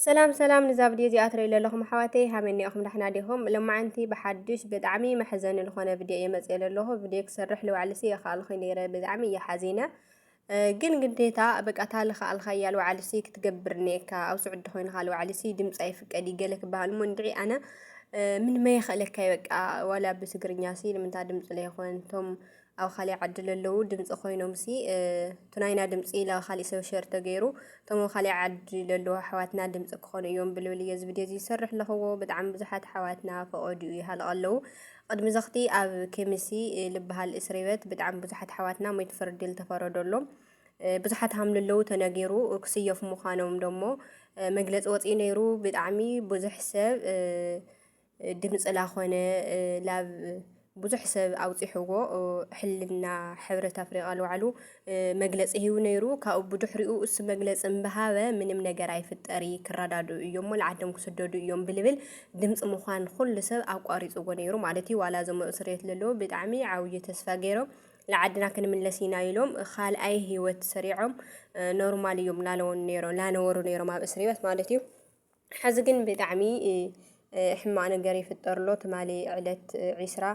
ሰላም ሰላም ንዛ ቪድዮ እዚኣ ትርእዩ ዘለኹም ኣሕዋተይ ሃመኒ ኢኹም ዳሕና ዲኹም ሎማዓንቲ ብሓዱሽ ብጣዕሚ መሕዘኒ ዝኾነ ቪድዮ እየ መፅየ ዘለኹ ቪድዮ ክሰርሕ ልባዕልሲ የኸኣልኹ ነይረ ብጣዕሚ እየ ሓዚነ ግን ግዴታ በቃ ታሊ ከኣልኻያ ልባዕልሲ ክትገብር እኒኤካ ኣብ ስዑዲ ኮይንካ ልባዕልሲ ድምፂ ኣይፍቀድ እዩ ገለ ክበሃል እሞ እንድዒ ኣነ ምን መየኸእለካ በቃ ዋላ ብትግርኛ ሲ ንምንታ ድምፂ ለይኾን እቶም ኣብ ካሊእ ዓዲ ለለዉ ድምፂ ኮይኖም ሲ እቲ ናይና ድምፂ ናብ ካሊእ ሰብ ሸር ተገይሩ እቶም ኣብ ካሊእ ዓዲ ለለዉ ኣሕዋትና ድምፂ ክኾኑ እዮም ብልብል እየ እዚ ቪድዮ እዚ ዝሰርሕ ኣለኽዎ ብጣዕሚ ብዙሓት ኣሕዋትና ፈቐድኡ ይሃልቕ ኣለዉ ቅድሚ ዘኽቲ ኣብ ኬሚሲ ልበሃል እስሪበት ብጣዕሚ ብዙሓት ኣሕዋትና ሞይት ፍርዲ ዝተፈረደሎም ብዙሓት ሃምልለዉ ተነጊሩ ክስየፉ ምዃኖም ደሞ መግለፂ ወፂኡ ነይሩ ብጣዕሚ ብዙሕ ሰብ ድምጽላ ኮነ ላብ ብዙሕ ሰብ ኣውጺሕዎ ሕልና ሕብረት ኣፍሪቃ ልባዕሉ መግለጺ ሂቡ ነይሩ ካብኡ ብድሕሪኡ እሱ መግለጺ እምበሃበ ምንም ነገር ኣይፍጠሪ ክረዳድኡ እዮም ልዓዶም ክስደዱ እዮም ብልብል ድምጺ ምዃን ኩሉ ሰብ ኣቋሪጽዎ ነይሩ ማለት እዩ ዋላ እዞም እስርየት ለለዎ ብጣዕሚ ዓብዩ ተስፋ ገይሮም ንዓድና ክንምለስ ኢና ኢሎም ካልኣይ ህይወት ሰሪዖም ኖርማል እዮም ላለውን ነይሮ ላነበሩ ነይሮም ኣብ እስር ቤት ማለት እዩ። ሐዚ ግን ብጣዕሚ ሕማቅ ነገር ይፍጠርሎ ትማሊ ዕለት ዒስራ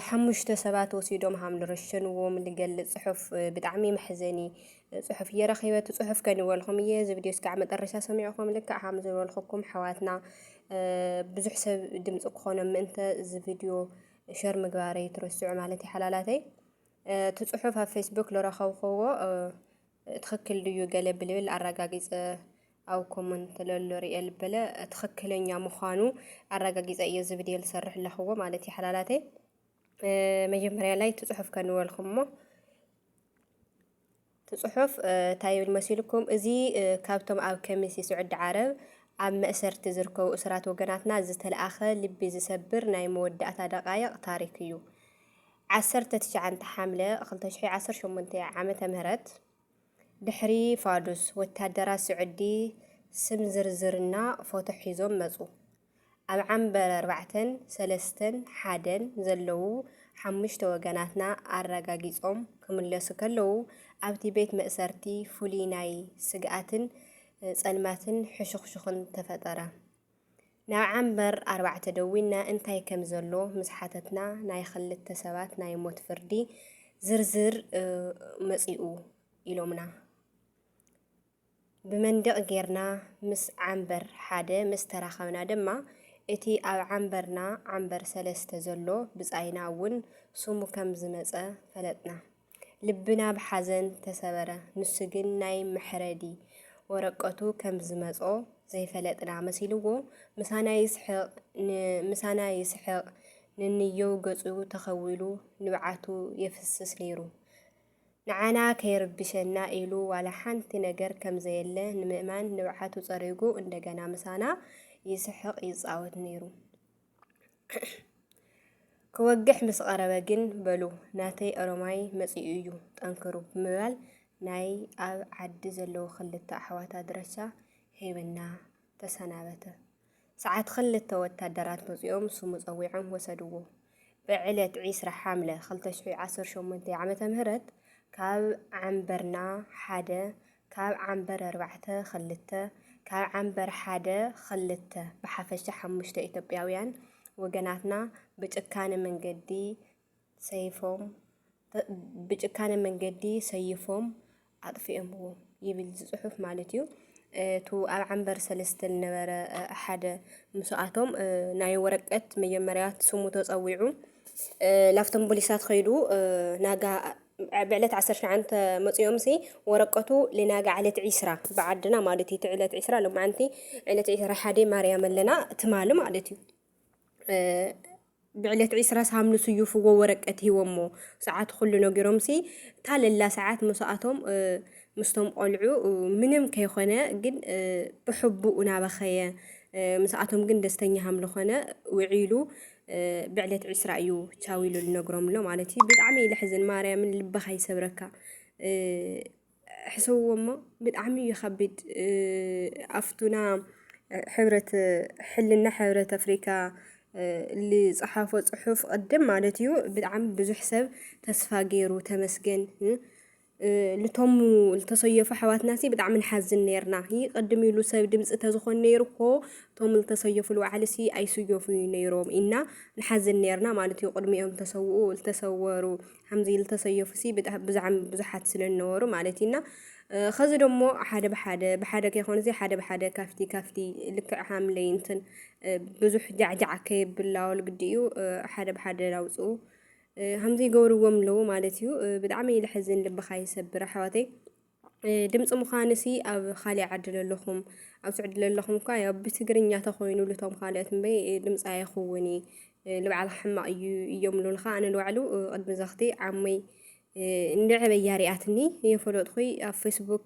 ሓሙሽተ ሰባት ወሲዶም ሃም ልረሸንዎም ልገልፅ ፅሑፍ ብጣዕሚ መሕዘኒ ፅሑፍ እየ ረኺበ እቲ ፅሑፍ ከንበልኹም እየ እዚ ቪድዮ እስካዕ መጠረሻ ሰሚዕኹም ልክዕ ሃም ዝበልኹኩም ኣሕዋትና ብዙሕ ሰብ ድምፂ ክኾኖ ምእንተ እዚ ቪድዮ ሸር ምግባረይ ትረስዑ ማለት ይሓላላተይ እቲ ፅሑፍ ኣብ ፌስቡክ ዝረኸብክዎ ትክክል ድዩ ገለ ብልብል ኣራጋጊጸ ኣብ ኮሞን ተለሎ ሪኤ ልበለ ትክክለኛ ምዃኑ ኣራጋጊጸ እየ ዝብድየ ልሰርሕ ኣለኽዎ ማለት እዩ ሓላላተይ መጀመርያ ላይ ትጽሑፍ ከንበልኩሞ ትጽሑፍ እንታይ ይብል መሲልኩም እዚ ካብቶም ኣብ ከሚሲ ስዑዲ ዓረብ ኣብ መእሰርቲ ዝርከቡ እሱራት ወገናትና ዝተለኣኸ ልቢ ዝሰብር ናይ መወዳእታ ደቃይቕ ታሪክ እዩ። ዓሰርተ ትሽዓንተ ሓምለ ክልተ ሽሕ ዓሰርተ ሸሞንተ ዓመተ ምህረት ድሕሪ ፋዱስ ወታደራት ስዑዲ ስም ዝርዝርና ፎቶ ሒዞም መጹ። ኣብ ዓምበር ኣርባዕተን ሰለስተን ሓደን ዘለዉ ሓሙሽተ ወገናትና ኣረጋጊጾም ክምለሱ ከለዉ ኣብቲ ቤት መእሰርቲ ፍሉይ ናይ ስግኣትን ጸልማትን ሕሹኽሹኽን ተፈጠረ። ናብ ዓምበር ኣርባዕተ ደዊና እንታይ ከም ዘሎ ምስ ሓተትና ናይ ኽልተ ሰባት ናይ ሞት ፍርዲ ዝርዝር መፂኡ ኢሎምና። ብመንድቕ ጌርና ምስ ዓምበር ሓደ ምስ ተራኸብና ድማ እቲ ኣብ ዓምበርና ዓምበር ሰለስተ ዘሎ ብፃይና እውን ስሙ ከም ዝመፀ ፈለጥና። ልብና ብሓዘን ተሰበረ። ንሱ ግን ናይ መሕረዲ ወረቀቱ ከም ዝመጾ ዘይፈለጥና መሲልዎ ምሳና ይስሕቕ ንንየው ገጹ ተኸዊሉ ንብዓቱ የፍስስ ነይሩ። ንዓና ከይርብሸና ኢሉ ዋላ ሓንቲ ነገር ከም ዘየለ ንምእማን ንብዓቱ ጸሪጉ እንደገና ምሳና ይስሕቕ ይጻወት ነይሩ። ክወግሕ ምስ ቐረበ ግን በሉ ናተይ ኦሮማይ መጺኡ እዩ ጠንክሩ ብምባል ናይ ኣብ ዓዲ ዘለዉ ክልተ ኣሕዋት ኣድራሻ ሂብና ተሰናበተ። ሰዓት ክልተ ወታደራት መጺኦም ስሙ ጸዊዖም ወሰድዎ። ብዕለት ዒስራ ሓምለ ክልተ ሽሕ ዓሰርተ ሸሞንተ ዓመተ ምህረት ካብ ዓምበርና ሓደ ካብ ዓምበር ኣርባዕተ ኽልተ፣ ካብ ዓምበር ሓደ ኽልተ፣ ብሓፈሻ ሓሙሽተ ኢትዮጵያውያን ወገናትና ብጭካነ መንገዲ ሰይፎም ብጭካነ መንገዲ ሰይፎም ኣጥፊኦምዎ ይብል እዚ ጽሑፍ ማለት እዩ። እቱ ኣብ ዓንበር ሰለስተ ዝነበረ ሓደ ምስኣቶም ናይ ወረቀት መጀመርያ ስሙ ተፀዊዑ ላፍቶም ፖሊሳት ከይዱ ናጋ ብዕለት ዓሰርተ ሸውዓተ መጺኦምሲ ወረቀቱ ልናጋ ዕለት ዒስራ ብዓድና ማለት እዩ እቲ ዕለት ዒስራ ሎማዓንቲ ዕለት ዒስራ ሓደ ማርያም ኣለና ትማሊ ማለት እዩ ብዕለት ዒስራ ሳምኑ ስዩፍዎ ወረቀት ሂቦሞ ሰዓት ኩሉ ነጊሮምሲ ታለላ ሰዓት ምስኣቶም ምስቶም ቆልዑ ምንም ከይኮነ ግን ብሕቡእ ናበኸየ ምስኣቶም ግን ደስተኛ ሃምልኾነ ውዒሉ ብዕለት ዕስራ እዩ ቻው ኢሉ ልነግሮም ኣሎ ማለት እዩ። ብጣዕሚ እዩ ለሕዝን ማርያምን ልብኻ ይሰብረካ ሕሰብዎ እሞ ብጣዕሚ እዩ ከቢድ ኣፍቱና ሕብረት ሕልና ሕብረት ኣፍሪካ ዝፀሓፎ ፅሑፍ ቅድም ማለት እዩ ብጣዕሚ ብዙሕ ሰብ ተስፋ ገይሩ ተመስገን ልቶም ልተሰየፉ ኣሕዋትናሲ ብጣዕሚ ንሓዝን ነይርና ይ ቅድም ኢሉ ሰብ ድምፂ ተዝኾን ነይሩ እኮ ቶም ልተሰየፉ ልዋዕሊሲ ኣይስየፉ ዩ ነይሮም ኢና ንሓዝን ነይርና ማለት ዩ ቅድሚኦም ተሰውኡ ልተሰወሩ ሓምዚ ልተሰየፉሲ ብዛዕሚ ብዙሓት ስለ ዝነበሩ ማለት ዩ እና ኸዚ ደሞ ሓደ ብሓደ ብሓደ ከይኮነሲ ሓደ ብሓደ ካፍቲ ካፍቲ ልክዕ ሃምለይ እንትን ብዙሕ ጃዕጃዕ ከየብላወል ግዲ እዩ ሓደ ብሓደ ላውፅኡ። ሃምዚ ይገብርዎም ኣለዉ ማለት እዩ። ብጣዕሚ እዩ ልሕዝን ልብኻ ይሰብር ኣሕዋተይ። ድምፂ ምዃንሲ ኣብ ካሊእ ዓዲ ለለኹም ኣብ ስዑዲ ለለኹም እኳ ያው ብትግርኛ ተኾይኑ ልቶም ካልኦት እምበይ ድምፂ ኣይኸውን እዩ ልብዓል ሕማቕ እዩ እዮም ሉልኻ ኣነ ልባዕሉ ቅድሚ ዘኽቲ ዓመይ እንድዕበያ ሪኣትኒ የፈለጥኹይ ኣብ ፌስቡክ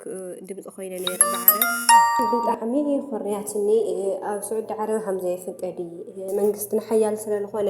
ድምፂ ኮይነ ነይረ ብዓረብ ብጣዕሚ ኮርያትኒ ኣብ ስዑዲ ዓረብ ሃምዘ ይፍቀድ መንግስትና ሓያል ስለልኾነ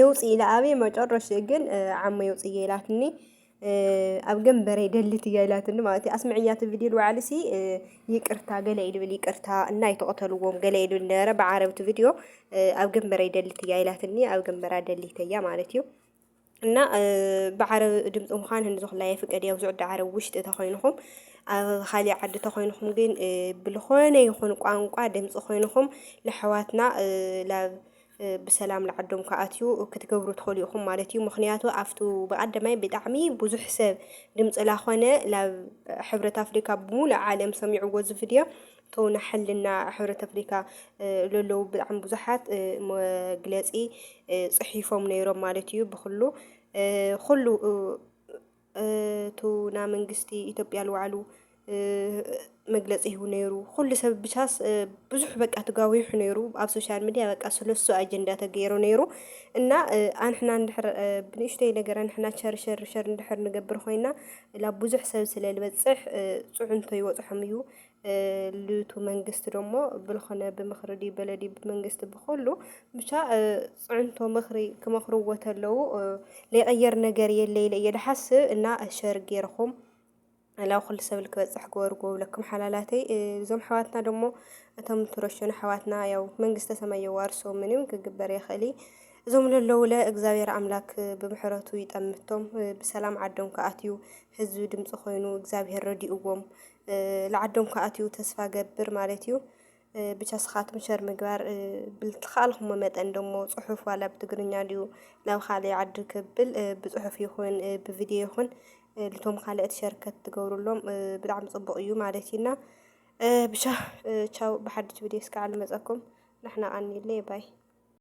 የውፅእ ኢለ ኣብየ መጨረሽኡ ግን ዓሞ የውፅእ ኢላትኒ ኣብ ገንበረይ ደልት እያ ኢላትኒ ማለት እዩ ኣስምዕያ እቲ ቪድዮ ንባዕልሲ ይቅርታ ገለ እዩ ድብል ይቅርታ እና ኣይተቐተልዎም ገለ እዩ ድብል ነበረ ብዓረብ እቲ ቪድዮ ኣብ ገንበረይ ደልት እያ ኢላትኒ ኣብ ገንበራ ደሊተ እያ ማለት እዩ እና ብዓረብ ድምፂ ምዃን ህንዚ ኩላ የፍቀድ እያ ብዙዕ ዓረብ ውሽጢ ተኮይንኹም ኣብ ካሊእ ዓዲ ተኮይንኹም ግን ብልኾነ ይኹን ቋንቋ ድምፂ ኮይንኹም ለሕዋትና ላብ ብሰላም ልዓዶም ክኣትዩ ክትገብሩ ትኸሉ ኢኹም ማለት እዩ ምክንያቱ ኣብቱ ብቀደማይ ብጣዕሚ ብዙሕ ሰብ ድምፂ ላኾነ ላብ ሕብረት ኣፍሪካ ብሙሉእ ዓለም ሰሚዕዎ እዚ ቪድዮ ተውና ሕልና ሕብረት ኣፍሪካ ለለዉ ብጣዕሚ ብዙሓት መግለፂ ፅሒፎም ነይሮም ማለት እዩ ብኩሉ ኩሉ እቱ ና መንግስቲ ኢትዮጵያ ልዋዕሉ መግለፂ ሂቡ ነይሩ ኩሉ ሰብ ብቻስ ብዙሕ በቃ ትጋዊሑ ነይሩ ኣብ ሶሻል ሚዲያ በቃ ስለሱ ኣጀንዳ ተገይሩ ነይሩ እና ኣንሕና እንድሕር ብንእሽተይ ነገር ኣንሕና ሸር ሸር ሸር እንድሕር ንገብር ኮይና ላብ ብዙሕ ሰብ ስለ ልበፅሕ ፅዕንቶ ይወፅሖም እዩ ልቱ መንግስቲ ደሞ ብልኾነ ብምኽሪ ድዩ በለ ድዩ ብመንግስቲ ብኹሉ ብቻ ፅዕንቶ ምኽሪ ክመኽርዎ ተለዉ ለይቐየር ነገር የለ ኢለ እየ ልሓስብ እና ሸር ገይርኹም ላብ ኩሉ ሰብ ልክበፅሕ ግበርዎ ብለኩም ሓላላተይ እዞም ኣሕዋትና ደሞ እቶም ትረሸኑ ኣሕዋትና ያው መንግስተ ሰማይ የዋርሶ ምንም ክግበር የኽእል እዞም ለለውለ እግዚኣብሔር ኣምላክ ብምሕረቱ ይጠምቶም ብሰላም ዓዶም ክኣትዩ ህዝቢ ድምፂ ኮይኑ እግዚኣብሔር ረዲእዎም ልዓዶም ክኣትው ተስፋ ገብር ማለት እዩ። ብቻ ስኻትኩም ሸር ምግባር ብልትኸኣልኩሞ መጠን ደሞ ጽሑፍ ዋላ ብትግርኛ ድዩ ናብ ካልእ ዓዲ ክብል ብጽሑፍ ይኹን ብቪድዮ ይኹን ልቶም ካልእት ሸርከት ትገብሩሎም ብጣዕሚ ጽቡቕ እዩ ማለት እዩና ብቻ ቻው ብሓድሽ ቪድዮ እስከ ዓል መጸኩም ንሕና ቃኒለ ባይ